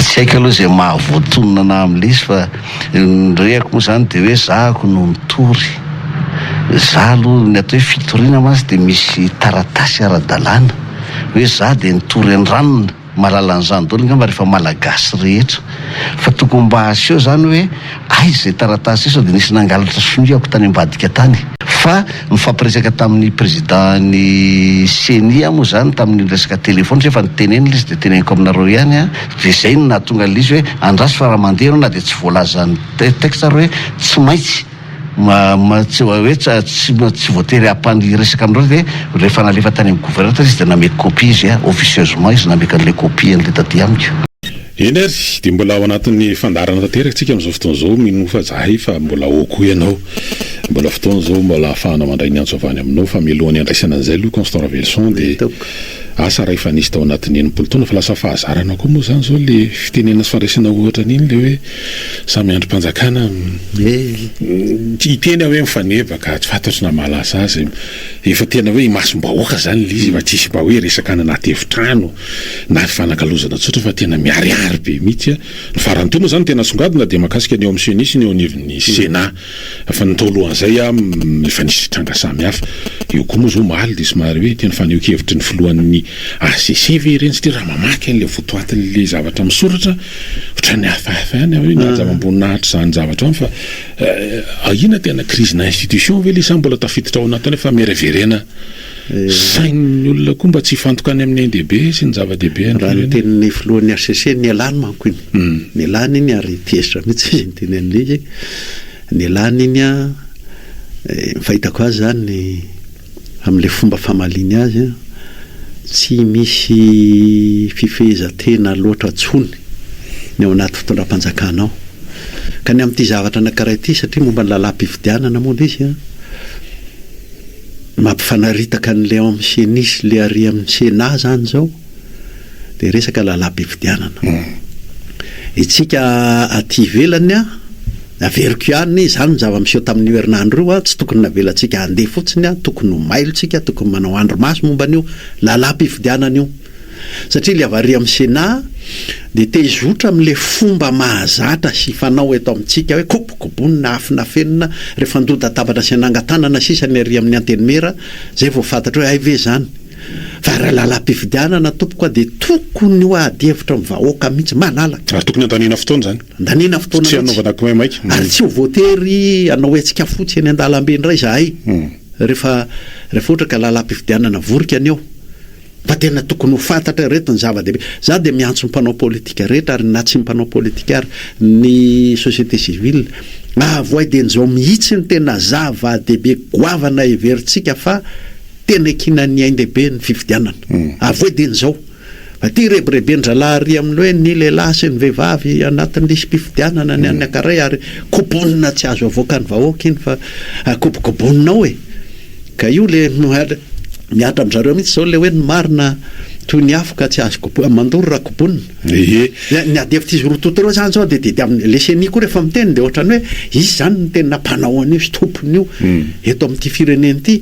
Tsy haiko aloha izay maha voatonona anah amin'ilay izy fa ny rehako moa izany dia hoe zahako no mitory. Zah aloha, ny atao hoe fitoriana mantsy dia misy taratasy ara-dalàna hoe zah dia nitory an-dRanona. Mahalala an'izany daholo angamba rehefa Malagasy rehetra fa tokony mba aseho izany hoe. Aiza izay taratasy izao dia nisy nangalatra sonia aoka tany ambadika tany. Fa nifampiresaka tamin'ny Président-n'ny ceni aho moa izany tamin'iny resaka téléphone satria efa nitenenina ilay izy dia teneniko aminareo ihany an! dia izay no nahatonga an'ilay izy hoe andraso fa raha mandeha ianao na dia tsy voalazan'ny texte ary hoe tsy maintsy hoe tsy voatery hampano hiresaka aminareo dia rehefa nalefa tany amin'ny gouverneur ilay izy dia nameko copie izy an! officieusement izy nameko an'ilay copie an'ilay taty amiko. Eny ary, dia mbola ao anatin'ny fandaharana tanteraka tsika amin'izao fotoana izao, mino fa zahay fa mbola ao koa ianao. Mbola fotoana izao mbola ahafahana mandray ny antso avy any aminao, fa mialohan'ny handraisana an'izay aloha Constant Ravelison dia asa raha efa nisy tao anatin'ny enimpolo taona fa lasa fahazarana koa moa izany izao ilay fitenenana sy fandraisana ohatra an'iny ilay hoe samy andrim-panjakana hiteny aho hoe mifaneva ka tsy fantatro na mahalasa azy, efa tena hoe imasom-bahoaka izany ilay izy, efa tsy hisy mba hoe resaka any anaty efitrano. na hifanakalozana tsotra fa tena miharihary be mihitsy ny farany teo moa zany tena asongadina dia mahakasika ny eo amin'ny ceni sy ny eo anivon'ny senat fa ny tao alohan'izay efa nisy tranga samihafa eo koa moa zao omaly dia somary hoe tena fanehoan-kevitry ny filohan'ny hcc ve ireny satria raha mamaky an'ilay votoatin'ilay zavatra misoratra ohatran'ny hafahafa ihany hoe mihaja amam-boninahitra izany zavatra izany fa ahiana tena crise-na institution ve ilay sa mbola tafiditra ao anatin'ilay famereverena Sain'ny olona koa mba tsy hifantoka any amin'ny ain-dehibe sy ny zava-dehibe any firenena. Raha ny tenin'ny filohan'ny hcc, nialany manko iny. Nialany iny ary tezitra mihitsy izy niteny an'ilay izy hoe nialany iny an, fahitako azy izany amin'ilay fomba famaliany azy an, tsy misy fifehezan-tena loatra intsony ny ao anaty fitondram-panjakana ao. Ka ny amin'ity zavatra anankiray ity, satria momba ny lalàm-pifidianana moa ilay izy an, Mampifanaritaka an'i Léon amin'ny ceni sy le ary amin'ny Sénat izany izao dia resaka lalam-pifidianana. Isika aty ivelany an, averiko ihany, izany ny zava-miseho tamin'io herinandro io an, tsy tokony navelantsika handeha fotsiny an, tokony ho mailo isika, tokony manao andry-maso momba an'io lalam-pifidianana io. Satria ilay avy ary amin'ny Sénat dia te hizotra amin'ilay fomba mahazatra sy fanao eto amintsika hoe kobokobonina, afonafenina, rehefa ndohan-tatabatra sy nanangan-tanana sisa ny ary amin'ny Antenimiera, izay vao fantatra hoe hay ve izany. Fa raha lalam-pifidianana tompoko a dia tokony ho ady hevitra amin'ny vahoaka mihitsy malalaka. Ary tokony handaniana fotoana izany. Handaniana fotoana mihitsy. Tsy hanaovana kimaimaika. Ary tsy ho voatery hanao hetsika fotsy eny an-dalambe indray izahay rehefa rehefa ohatra ka lalam-pifidianana vorika ny eo. Fa tena tokony ho fantatra ireto ny zava-dehibe. Za dia miantso ny mpanao politika rehetra ary na tsy mpanao politika ary, ny société civile, avoay dia njao mihitsy ny tena zava-dehibe goavana heverintsika fa tena ekinan'ny ain-dehibe ny fifidianana. Avoay dia njao. Fa ity rebirebin-drahalahy ary amin'ny hoe ny lehilahy sy ny vehivavy anatin'ny lisi-pifidianana ny an'ny ankaray ary kobonina tsy azo avoakan'ny vahoaka iny fa kobokobonina ao e! Ka io le mihatra amzareo mihitsy zao le hoe ny marina toy ny afo ka tsy azo kobohina, mandoro raha kobonina. Ehe. Ny ady hevitra izy roa toto reo zany zao de tediavina, le ceni koa refa miteny de otrany hoe izy zany no tena mpanao an'io sy tompon'io eto amin'ity firenena ity,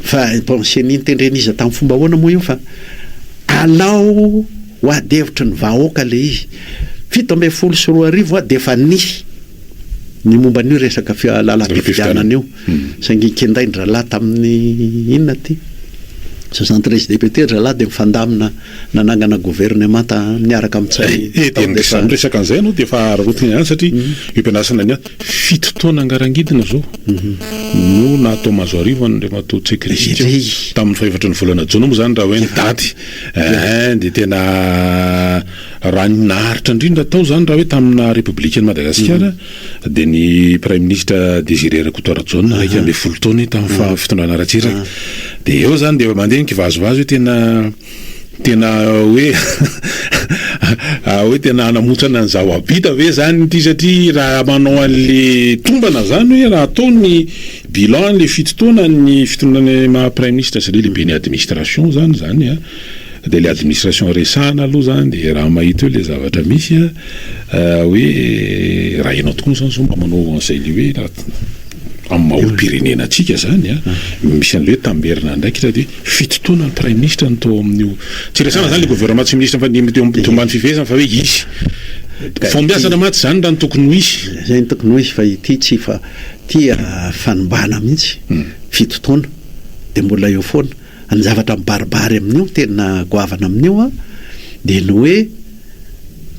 fa bon ceni nitendren'iza tamin'ny fomba ahoana moa io fa alao ho ady hevitry ny vahoaka le izy, fito ambin'ny folo sy roa arivo hoa defa nisy ny momba an'io resaka lalam-pifidianana io. Saingy kendain-drahalahy tamin'ny inona ity? Soixante treize députés ry zalahy dia mifandamina nanangana governemanta niaraka amin'ny Ntsay tao dia izany. Dia izany resaka an'izay ianao dia efa hararaotina ihany satria io mpiandrasana io fito taona ngarangidina izao no nahatao mazoarivo an'Andriamatoa Tsekritchiko tamin'ny fahefatry ny volana jona moa izany raha hoe ny daty eh, dia tena raha ny naharitra indrindra tao izany raha hoe tamina Repoblikan'i Madagasikara, Dia ny Praiminisitra Désiré Rakotoarijaona, iraika ambin'ny folo taona tamin'ny faha fitondrana Ratsiraka. Dia eo izany dia mandeha ny kivazivazy hoe tena tena hoe hoe tena hanamotsana ny zava-bita ve izany ity satria raha manao an'le tombana izany hoe raha atao ny bilan an'le fito taona ny fitondrana maha Praiminisitra sy le lehiben'ny administration izany izany an! Dia ilay administration resahana aloha izany dia raha mahita eo ilay zavatra misy hoe raha ianao tokoa izany sao mba manao an'izay ilay hoe amin'ny maha olom-pirenena antsika izany an, misy an'ilay hoe tamberina andraikitra dia fito taona ny praiminisitra no tao amin'io, tsy resahana izany ilay governemanta sy minisitra fa ny teo ambany fifehezana fa hoe hisy fahombiazana mantsy izany raha ny tokony ho hisy. Izay no tokony ho hisy fa ity tsy fa ity fanimbana mihitsy, fito taona dia mbola eo foana. Ny zavatra mibaribary amin'io, tena goavana amin'io an, dia ny hoe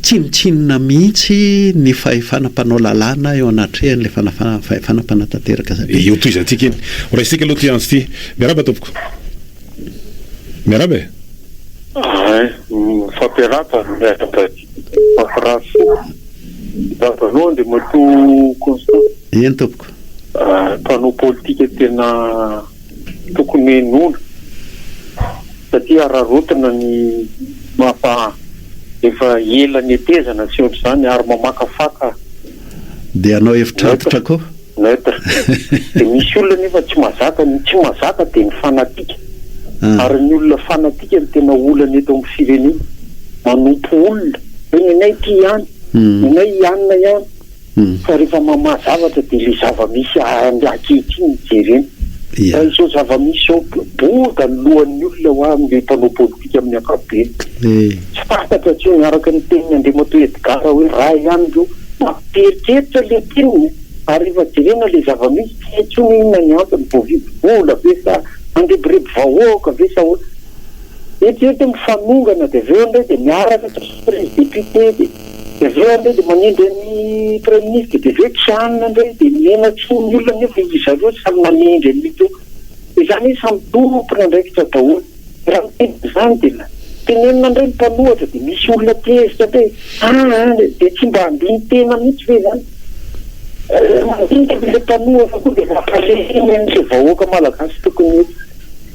tsinontsinona mihitsy ny fahefana mpanao lalàna eo anatrehan'ilay fanafahana fahefana mpanatanteraka zavatra. Dia io tohizantsika iny. Ho raisintsika aloha ity antso ity. Miarahaba tompoko. Miarahaba e. Ay, mifampiarahaba, miarahaba aty en France. Miarahaba anao Andriamatoa Constant. Eny tompoko. Mpanao politika tena. Tokony henoina satria araraotina ny mapa efa ela netezana sy ohatr'izany ary mamakafaka. Dia hanao hevitr'antitra koa. Neutre. Dia misy olona nefa tsy mazaka, ny tsy mazaka dia ny fanatika. Ary ny olona fanatika no tena olana eto amin'ny firenena. Manompo olona hoe ny anay ity ihany, ny anay i anona ihany. Fa rehefa mamaha zavatra dia ilay zava-misy ankehitriny no jerena. Raha izao zava-misy izao, boda ny lohan'ny olona ho an'ilay mpanao politika amin'ny ankapobeny. Tsy fantatra intsony, araka ny tenin'i Andriamatoa Edgard hoe raha ihany ireo mampieritreritra ilay mpirinina ary rehefa jerena ilay zava-misy tsy hay intsony hoe inona ny antony, voavidy vola ve sa mandrebireby vahoaka ve sa ahoana. Eritrereto hoe mifanongana dia avy eo indray dia miaraka trisomero izy député dia. Dia avy eo ary indray dia manendry an'i Praiminisitra, dia avy eo tsy hanina indray, dia mihenatsoa ny olona nefa izy zareo samy manendry an'io teo. Dia izany hoe samy tompon'andraikitra daholo. Raha miteny an'izany dia tenenina indray ny mpanohatra dia misy olona tezitra indray e! aa a! dia tsy mba andinin-tena mihitsy ve izany? Mandinika ve ilay mpanohatra koa dia mampaheriny an'ilay vahoaka malagasy tokony ho eto?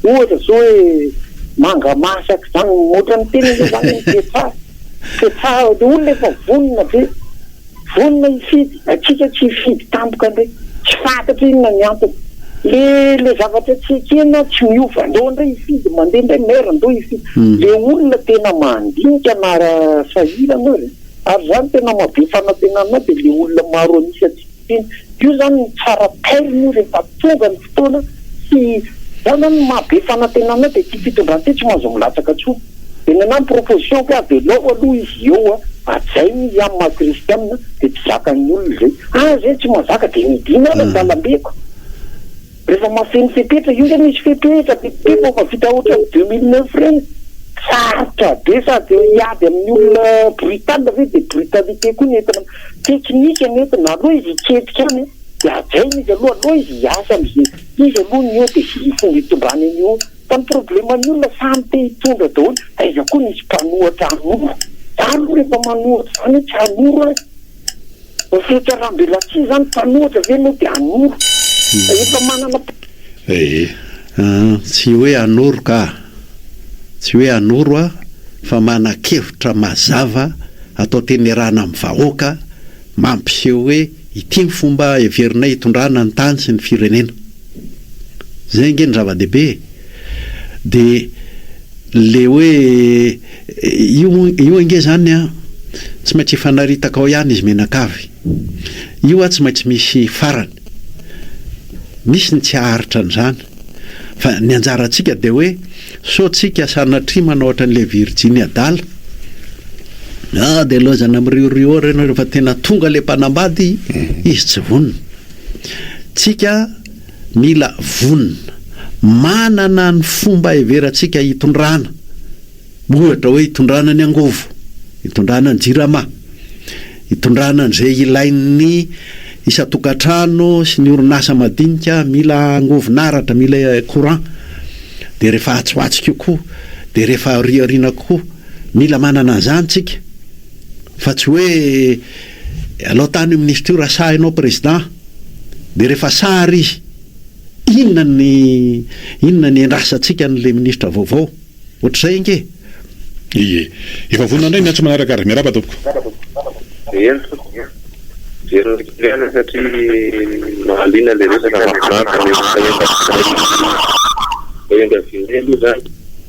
Ohatra izao hoe manga masaka izany, ohatran'ny tena izao izany ny toe-tsary. Dia tsara ilay olona efa vonona ve? Vonona hifidy? Antsika tsy hifidy tampoka ndray. Tsy fantatro inona ny antony. Le le zavatra tsy ekena tsy miova. Ndao ndray hifidy mandeha ndray maire ndao hifidy. Le olona tena mandinika na sahirana aza. Ary zany tena maha be fanantenana ahy dia le olona maro an'isa tsy. Io izany no tsara tairina io rehefa tonga ny fotoana sy zao izany no maha be fanantenana dia ity fitondran ity tsy mahazo milatsaka intsony dia ny anah ny proposition ko avelao aloha izy eo hajaina izy an maha kristianina dia tsy zakan'ny olona izay aza izy tsy mahazaka dia midina ary an-dalambe ko. Rehefa mahafeno fepetra, io ndray misy fepetra be be vao mahavita ohatran'ny deux mille neuf ireny. Sarotra be sady hiady amin'ny olona brutal ve dia brutalité koa ny entina, teknika ny entina, aleo izy hitsetsika any an, dia hajaina izy aloha, aleo izy hiasa amin'izay izy aloha ny eo dia hisy fomba hitondrany an'io eo, fa ny problème ny olona samy te hitondra daholo, aiza koa nisy mpanohatra hanoro, za aloha rehefa manohitra izany hoe tsy hanoro aho e. Ny fihetseham-belatsihy izany, mpanohitra ve no dia hanoro? Efa manana mpanohitra izy e! Aa, tsy hoe hanoro ka! Tsy hoe hanoro aho fa manan-kevitra mazava atao tenerana amin'ny vahoaka mampiseho hoe ity ny fomba heverinay hitondrana ny tany sy ny firenena. Izay ange no zava-dehibe e! Dia. Le hoe io io ange zany an tsy maintsy hifanaritaka ao ihany izy mianakavy. Io an tsy maintsy misy farany. Misy ny tsy haharitra an'izany. Fa ny anjarantsika dia hoe sao tsika sanatria manao ohatran'ilay virjiny adala. Ah dia laozana miriorio ry nareo fa tena tonga ilay mpanambady izy tsy vonona. Tsika. Mila vonona. Manana ny fomba heverantsika hitondrana. Ohatra hoe hitondrana ny angovo, hitondrana ny jirama, hitondrana an'izay ilain'ny isan-tokantrano sy ny orinasa madinika, mila angovon'aratra, mila courant, dia rehefa atsy ho atsy kokoa, dia rehefa aoriaoriana kokoa. Mila manana an'izany tsika. Fa tsy hoe Alao tany minisitra io raha sahy anao président de rehefa sary izy inona ny inona ny endrasantsika anle minisitra vaovao ohatrizay ange. Ie. Efa vonona indray ny atsy manaraka ary. Miarahaba tompoko. Eny tompoko. Jereo kely ihany satria mahaliana ilay resaka mahafinaritra nefa efa vita indray ilay izy. Efa vita indray aloha izany.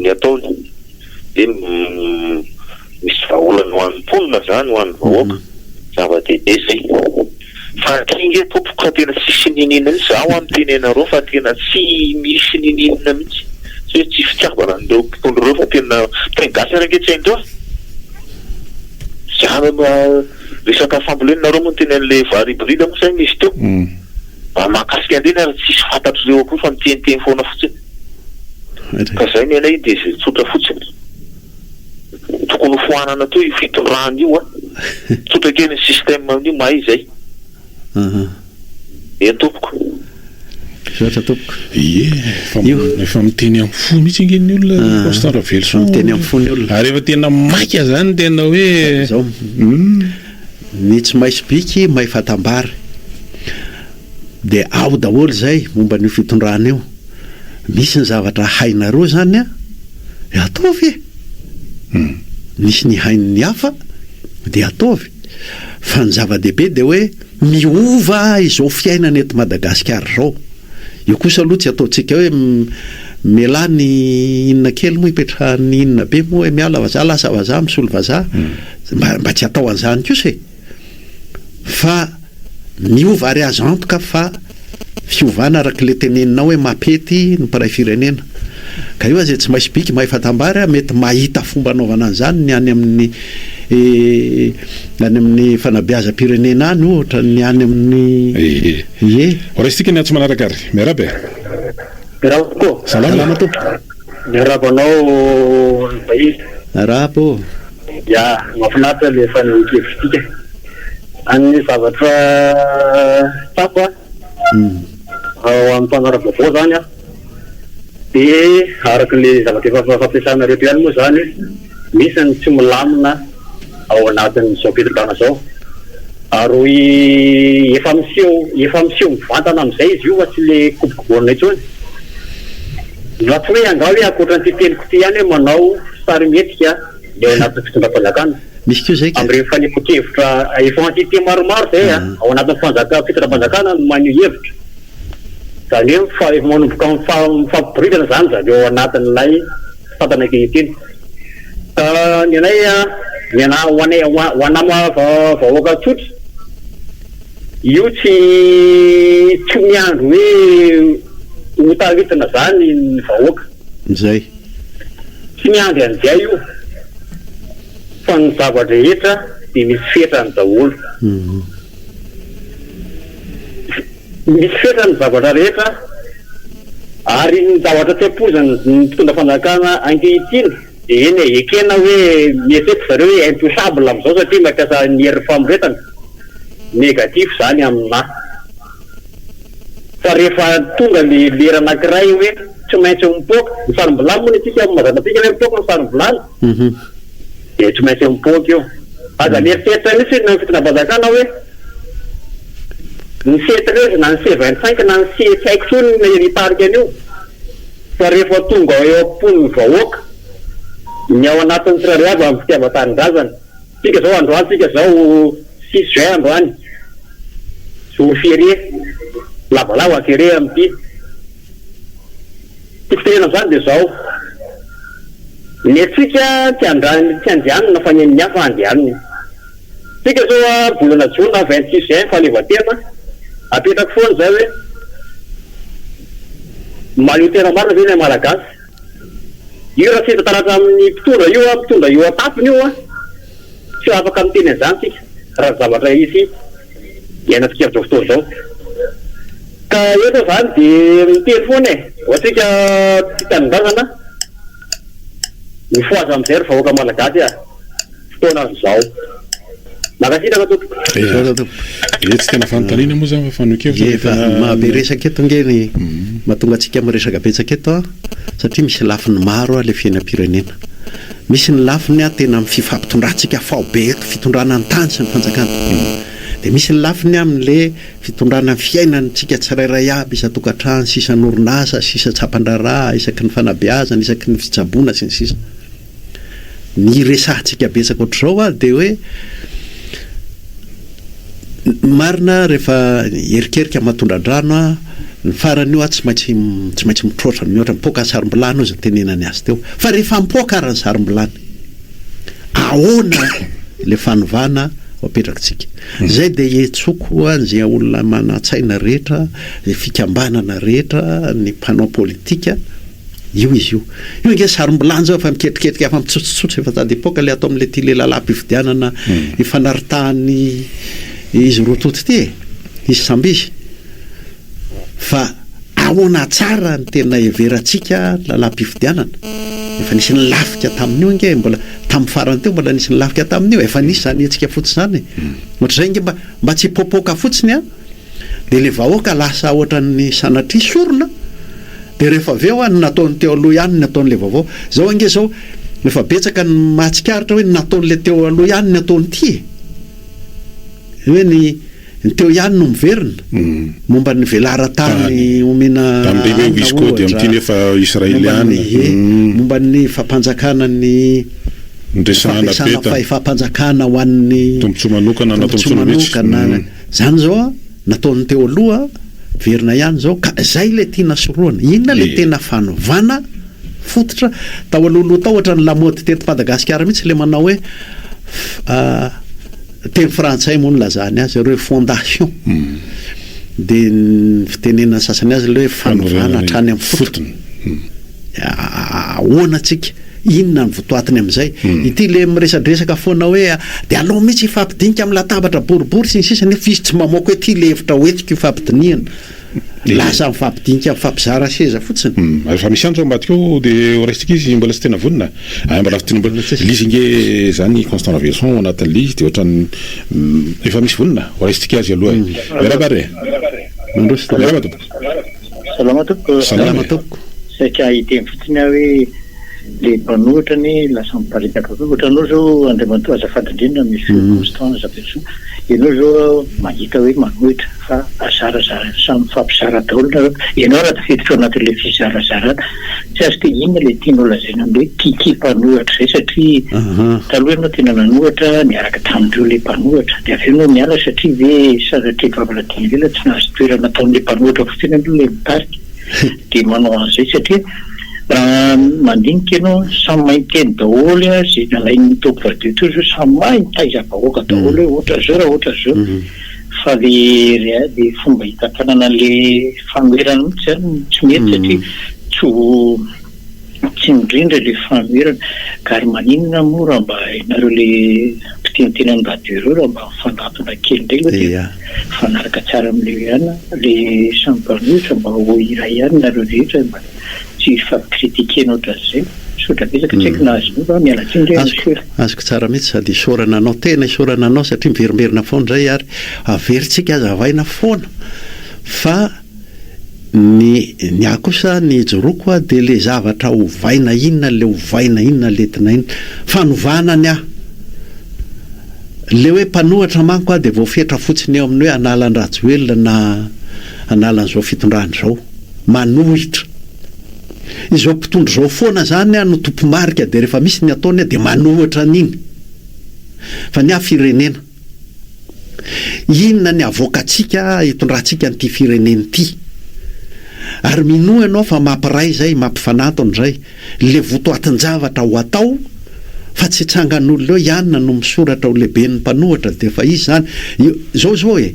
Ny ataony dia misy vahaolana ho an'ny mponina izany, ho an'ny vahoaka, zava-dehibe izay. Fa ankehitriny tompoko ka tena tsisy inininina mihitsy, izaho ho'a miteny anareo fa tena tsy misy ninininina mihitsy, tsy hoe tsy fitiavana an'ireo mpitondra ireo fa tena teny gasy ary ange tsy hain'ireo an! Izany ho'a resaka fambolena nareo moa no teny an'ilay vary hybride moa izay misy teo? Raha mahakasika an'ireny ary tsisy fantatr'ireo akory fa miteniteny foana fotsiny. Ka zay ny anay dia zay tsotra fotsiny. Tokony ho foanana teo io fitondrana io a! Tsotra kely ny système amin'io mahay izay. Aha. Eny tompoko. Misaotra tompoko. Ie, efa Io. efa miteny amin'ny fo mihitsy ange ny olona Ah. Riposte Ravelison. Efa miteny amin'ny fo ny olona. Ary efa tena maika zany tena hoe Zao. Hum. Ny tsy may sobika may fatambara. De ao daholo zay momba an'io fitondrana io. Misy ny zavatra hainareo zany an! De ataovy e! Misy ny hain'ny hafa de ataovy. Fa ny zava-dehibe de hoe miova izao fiainana eto Madagasikara izao. Io kosa aloha tsy ataontsika hoe mialà ny inona kely moa ipetrahan'ny inona be moa hoe miala vazaha lasa vazaha misolo vazaha. Mba tsy atao an'izany kosa e! fa miova ary azo antoka fa fiovana araka ilay teneninao hoe mapety ny mpiray firenena ka io aza tsy maisy bika mahefa tambary a mety mahita fomba anaovana an'izany ny any amin'ny any amin'ny fanabeazam-pirenena any ohatra ny any amin'ny ie raisintsika ny antso manaraka ary miarahaba e miarahaba tokoa salama tompoko Miarahaba anao Razafiahivy. Arahaba ô! Ya, mahafinaritra le fanehoan-kevitritsika. An'ny zavatra tsapa ao amin'ny mpanara-baovao zany an, dia araka le zavatra efa fampiasanareo eto ihany moa zany, misy ny tsy milamina. ao anatin'izao fetin-taona izao. Ary efa miseho efa miseho mivantana amin'izay izy io fa tsy ilay kuboko baolina intsony. Na tsy hoe angaha hoe ankoatran'ity teniko ity ihany hoe manao sarimihetsika ny ao anatin'ny fitondram-panjakana. Misy koa izay ka. Amin'ireny fanehoan-kevitra efa entité maromaro izay ao anatin'ny fanjaka fitondram-panjakana no maneho hevitra. Izany hoe efa manomboka mifampiboridana izany izany ao anatin'ilay mpitantana ankehitriny. Ka ny anay, ny anay, ho anay, ho anay vahoaka tsotra, io tsy tsy miandry hoe ho taritina izany ny vahoaka. Izay. Tsy miandry an'izay io, fa ny zava-drehetra dia misy fetrany daholo. Misy fetra ny zavatra rehetra ary ny zavatra tsy ampoizan'ny mpitondra fanjakana ankehitriny dia eny e, ekena hoe mieritreritra zareo hoe intouchable amin'izao satria mampiasa ny herin'ny famoretana, negatif izany aminà. Fa rehefa tonga ilay lera anankiray hoe tsy maintsy mipoaka, ny sarom-bilany moa ny antsika, ao Mazandrapika hoe mipoaka ny sarom-bilany? Dia tsy maintsy mipoaka io. Aza mieritreritra mihitsy ny fitondrapanjakana hoe ny C treize na ny C vingt cinq na ny C tsy haiko intsony ny hitarika an'io fa rehefa tonga eo am-pon'ny vahoaka ny ao anatin'ny tsirairay avy amin'ny fitiavan-tanindrazana. Isika izao androany, isika izao six juin androany, jour férié, lavalava kere amin'ity. Tiako tenena amin'izany dia izao, ny antsika tsy andran'ny tsy andehanana fa ny an'ny hafa andehaniny. Isika izao a volana jona vingt six juin fahaleovantena, apetrako foana izay hoe, mahaleo tena marina ve ilay malagasy? Io raha tsy hita taratra amin'ny mpitondra io a, mpitondra eo an-tampony io a, tsy ho afaka miteny an'izany isika raha ny zavatra hisy. Iainantsika amin'izao fotoana izao. Ka eto izany dia miteny foana e! Ho antsika tia tanindrazana, mifohaza amin'izay ry vahoaka malagasy a! Fotoana azo izao. Mankasitraka tompoko. Misaotra tompoko. Dia tsy tena fanontaniana moa izany fa fanehoan-kevitra no tena. Efa mahabe resaka eto ange ny mahatonga antsika miresaka betsaka eto satria misy lafiny maro ilay fiainam-pirenena. Misy ny lafiny tena amin'ny fifampitondrantsika faobe eto, fitondrana ny tany sy ny fanjakan'ny tontolo. Dia misy ny lafiny amin'ilay fitondrana ny fiainantsika tsirairay aby, isan-tokantrano sy isan'orinasa sy isan-tsampan-draharaha, isaky ny fanabeazana, isaky ny fitsaboana, sy ny sisa Ny iresahantsika betsaka ohatr'izao ary dia hoe, Marina rehefa hierikerika aman-tondra-drano aho, ny farany io aho tsy maintsy tsy maintsy mitroatra mihoatra, mipoaka ny sarom-bilany hoy izay nitenenany azy teo. Fa rehefa mipoaka ary ny sarom-bilany, ahoana ilay fanovana ho apetrakintsika? Izay dia iantsoako ho an'izay olona manan-tsaina rehetra, ny fikambanana rehetra, ny mpanao politika, Io izy io. Io ange sarom-bilanja io fa miketriketrika hafa mitsotsotsotso efa tady hipoaka ilay ato amin'ity lehilalam-pifidianana ifanaritahan'ny izy roa toto ity e. Izy samby izy. Fa ahoana tsara ny tena heverantsika lalam-pifidianana. Efa nisy nilafika tamin'io ange e. Mbola tamin'ny farany teo mbola nisy nilafika tamin'io. Efa nisy izany hetsika fotsy izany e. Ohatr'izay ange mba mba tsy hipoapoaka fotsiny an. Dia ilay vahoaka lasa ohatran'ny sanatria sorona, dia rehefa avy eo ny nataon'ny teo aloha ihany ny ataon'ilay vaovao. Izao ange izao efa betsaka ny mahatsikaritra hoe ny nataon'ilay teo aloha ihany ny ataon'ity e! Hoe ny ny teo ihany no miverina. Momba ny velaran-tany omena hanina ohatra, momba ny ie, momba ny fampanjakana ny ny fampiasana fahefam-panjakana ho an'ny tombontsoa manokana na tombontsoa manokana. Zany zao an, nataony teo aloha verina ihany zao ka zay le tiana sorohana. Inona le tena fanovana fototra? Tao alohaloha tao ohatran'ny lamaody teto Madagasikara mihitsy le manao hoe teny frantsay moa no nilazany azy, refondation. De ny fitenenana sasany azy le hoe fanovana hatrany amin'ny fotony. Ahoana tsika? Inona ny votoatiny amin'izay? Ity le miresadresaka foana hoe dia aleo mihitsy hifampidinika amin'ny latabatra boribory sy ny sisa nefa izy tsy mamoaka hoe ty le hevitra hoentiko hifampidinihana. Lasa mifampidinika mifampizara seza fotsiny. Rehefa misy antso ao ambadika ao dia horaisitsika izy mbola tsy tena vonona. Ay mbola tsy mbola lizy nge zany Constant Raveloson ao anatin'ny lizy dia ohatrany efa misy vonona horaisitsika azy aloha e. Miarahaba re. Mandroso tompoko. Salama tompoko. Salama tompoko. Saika hiteny fotsiny aho hoe le mpanohitra anie lasa miparitaka koa. Ohatranao zao Andriamatoa azafady indrindra Monsieur Constant Razafisoa, ianao zao mahita hoe manohitra fa azarazara samy mifampizara daholo nareo. Ianao raha tafiditra ao anatin'ilay fizarazarana. Tsy azo dia inona ilay tianao lazaina amin'ny hoe Kiki mpanohatra izay satria taloha ianao tena nanohatra niaraka tamin'ireo ilay mpanohatra dia avy eo ianao niala satria ve sanatria vavan'Adin'i Leila tsy nahazo toerana ataon'ilay mpanohatra fotsiny aloha ilay mitarika dia manao an'izay satria raha mandinika ianao samy mahay miteny daholo izay nalain'ny top radio teo izao samy mahay mitaiza vahoaka daholo hoe ohatran'izao raha ohatran'izao Fa le le fomba hitantanana anle fanoherana mihitsy zany no tsy mety satria tsy ho tsy mirindra le fanoherana ka ary maninona moa raha mba ianareo le mpiteniteny amin'ny radio ireo raha mba mifandrantona kely indray aloha de mifanaraka tsara amle hoe ihany le samy mpanohitra mba ho iray ihany nareo rehetra mba tsy hifampicritiquer ohatran'izay. Misaotra betsaka, tsy haiko na azonao va, miala tsiny re monsieur. Azoko tsara mihitsy sady isaorana anao tena isaorana anao satria miverimberina foana izay ary averintsika hazavaina foana fa ny ny ahy kosa ny ijoroako aho dia ilay zavatra ovaina inona ilay ovaina inona ilay entina inona fanovana ny ahy ilay hoe mpanohatra manko aho dia voafetra fotsiny eo amin'ny hoe hanala an-dRajoelina na hanala an'izao fitondrana izao. manohitra. Izao mpitondra izao foana izany no tompomarika dia rehefa misy ny ataony dia manohitra an'iny. Fa ny ahy firenena. Inona ny havoakantsika hitondrantsika an'ity firenena ity. Ary minoa ianao fa mampiray izay, mampifanantona izay. Le votoatin-javatra ho atao fa tsy hitsangan'olona eo ianona no misoratra ho lehiben'ny mpanohatra de efa izy izany io zao zao e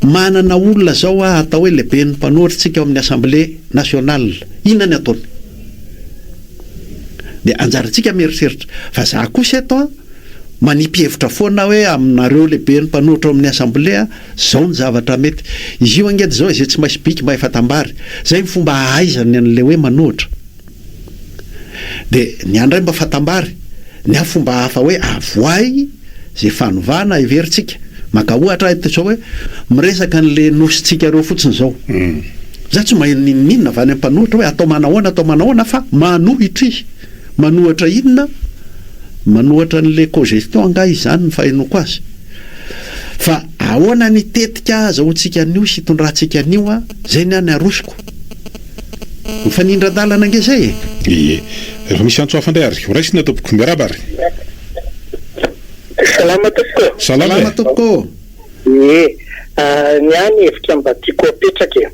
manana olona zao hoa atao hoe lehiben'ny mpanohatra tsika ao amin'ny assemblée nationale inona ny ataony de anjarantsika mieritreritra fa za kosa eto an manipy hevitra foana hoe aminareo lehiben'ny mpanohatra ao amin'ny assemblée an zao ny zavatra mety izy io angety zao izay tsy maintsy biky mba efa tambary zay ny fomba ahaizany an'le hoe manohatra Dia ny ahy indray mba fatambary ny ahy fomba hafa hoe avoahy izay fanovana heverintsika. Maka ohatra aho eto izao hoe miresaka an'ilay nosintsika ireo fotsiny izao. Izaho tsy maheno n'inon'inona avy any amin'ny mpanohitra hoe atao manahoana atao manahoana fa manohitra izy. Manohitra inona? Manohitra an'ilay cogestion angaha izany ny fahenoako azy. Fa ahoana ny tetika azahoantsika an'io sy hitondrantsika an'io an? Izay ny ahy ny arosoko. Mifanindran-dalana ange izay e! Ie. Rehefa misy antso hafa indray ary ho raisina tompoko. Miarahaba ary. Salama tompoko. Salama e. Tompoko ô. Ie. Ny ahy ny hevitra mba tiako apetraka e.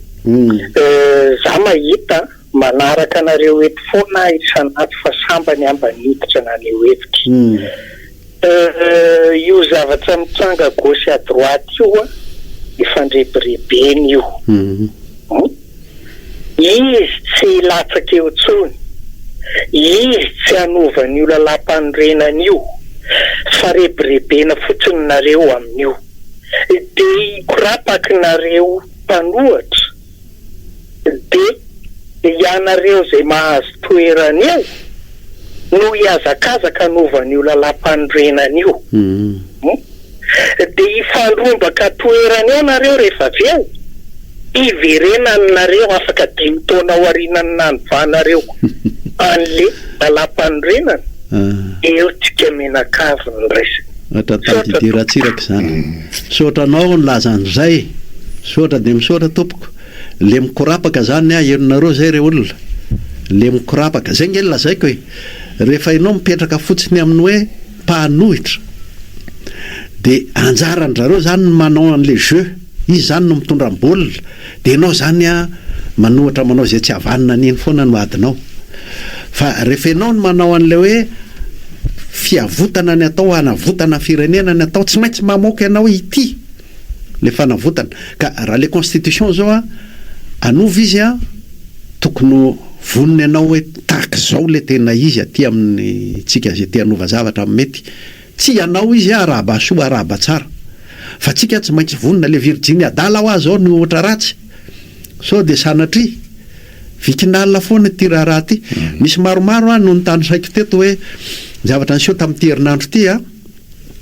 Za mahita manaraka anareo eto foana aho isan'andro fa sambany aho mba niditra naneho hevitra. Euh io zavatra mitranga à gauche et à droite io an, efa andrebirebena io hum izy tsy hilatsaka eo tsony, izy tsy hanova an'io lalampanorenana io fa rebirebena fotsiny nareo amin'io, dia hikorapaky nareo mpanohatra. Dia ianareo izay mahazo toerana eo no hihazakazaka hanova an'io lalàmpanorenana io. Dia hifandrombaka toerana eo nareo rehefa avy eo hiverenanareo afaka dimy taona aoriana ny nanovanareo an'le lalàmpanorenana, eo tsika mianakavy no resaka. Misaotra tompoko. Misaotra anao nilaza an'izay. Misaotra dia misaotra tompoko. Le mikorapaka zany ah heno nareo zay re olona. Le mikorapaka. Zay nge lazaiko e. Rehefa enao mipetraka fotsiny amin'ny hoe mpanohitra. Dia anjaran-drareo zany ny manao an'le jeu. Izy zany no mitondra ny baolina. Dia enao zany a manohatra manao izay tsy havanona an'iny foana no adinao. Fa rehefa enao no manao an'ilay hoe fiavotana ny atao hanavotana ny firenena ny atao tsy maintsy mamoaka enao hitia le fanavotana. Ka raha le constitution zao a anova izy a tokony ho vonona enao hoe tahak'izao le tena izy aty amin'ny tsika zay te hanova zavatra mety Tsy ianao izy a arahaba soa arahaba tsara fa tsika tsy maintsy vonona le virjiny adala hoa zao no ohatra ratsy sao de sanatria vikinal foana ity raharaha ty misy maromaro a no notanisaiko teto hoe zavatra niseho tamty herinandro ty a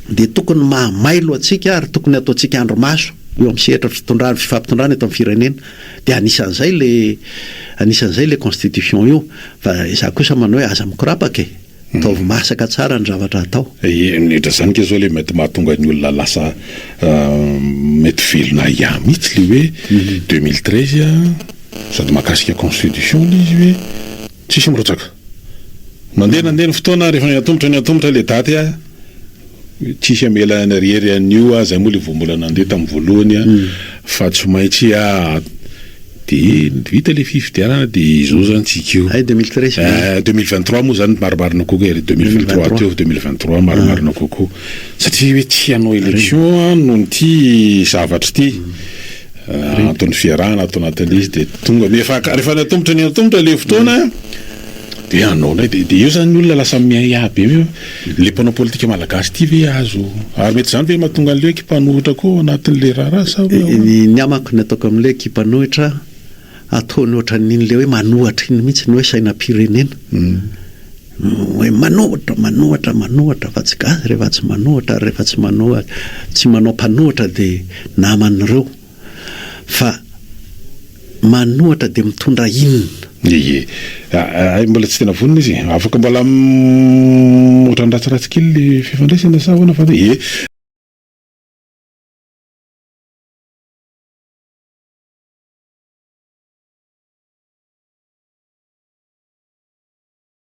de tokony mahamailo atsika ary tokony ataotsika andro maso eo am sehatra fitondrana fifampitondrana eto am firenena de anisanzay le anisanzay le constitution io fa za kosa manao hoe aza mikorapaka e. Ataovy masaka tsara ny zavatra atao. Nedra zany nge zao le mety mahatonga ny olona lasa mety velona ahiahy mihitsy le hoe deux mille treize a, sady mahakasika constitution le izy hoe tsisy mirotsaka. Mandeha nandeha ny fotoana rehefa niantomotra niantomotra le daty a. Tsy hamela any irery any io aho, zay moa le vao mbola nandeha tamin'ny voalohany aho fa tsy maintsy aho de vita le fifidianana de izao zany tsika io. Ay deux mille treize ve? Ay deux mille vingt trois moa zany marimarina kokoa e, deux mille vingt trois aty aho deux mille vingt trois marimarina kokoa satria hoe tsy hanao élection aho noho ity zavatra ity, antony fiarahana ato anatin'ilay izy de tonga rehefa rehefa antomotra ny antomotra le fotoana de hanaonay de de eo zany ny olona lasa miahiahy be. Le mpanao politika malagasy ity ve azo ary mety zany ve mahatonga anle ekipanohitra koa ao anatinle raharaha sa hoe ahoana? Ny amako ny ataoko amle ekipanohitra ataony ohatraniny le hoe manohatra iny mihitsy ny hoe sainampirenena hoe manohatra manohatra manohatra fa tsy gasy rehefa tsy manohatra ary rehefa tsy manohatra tsy manao mpanohatra de naman'ireo. fa manohatra dia mitondra inona? Ie. Hay mbola tsy tena vonona izy. Afaka mbola ohatran'ny ratsiratsy kely ilay fifandraisana sa ahoana fa ie.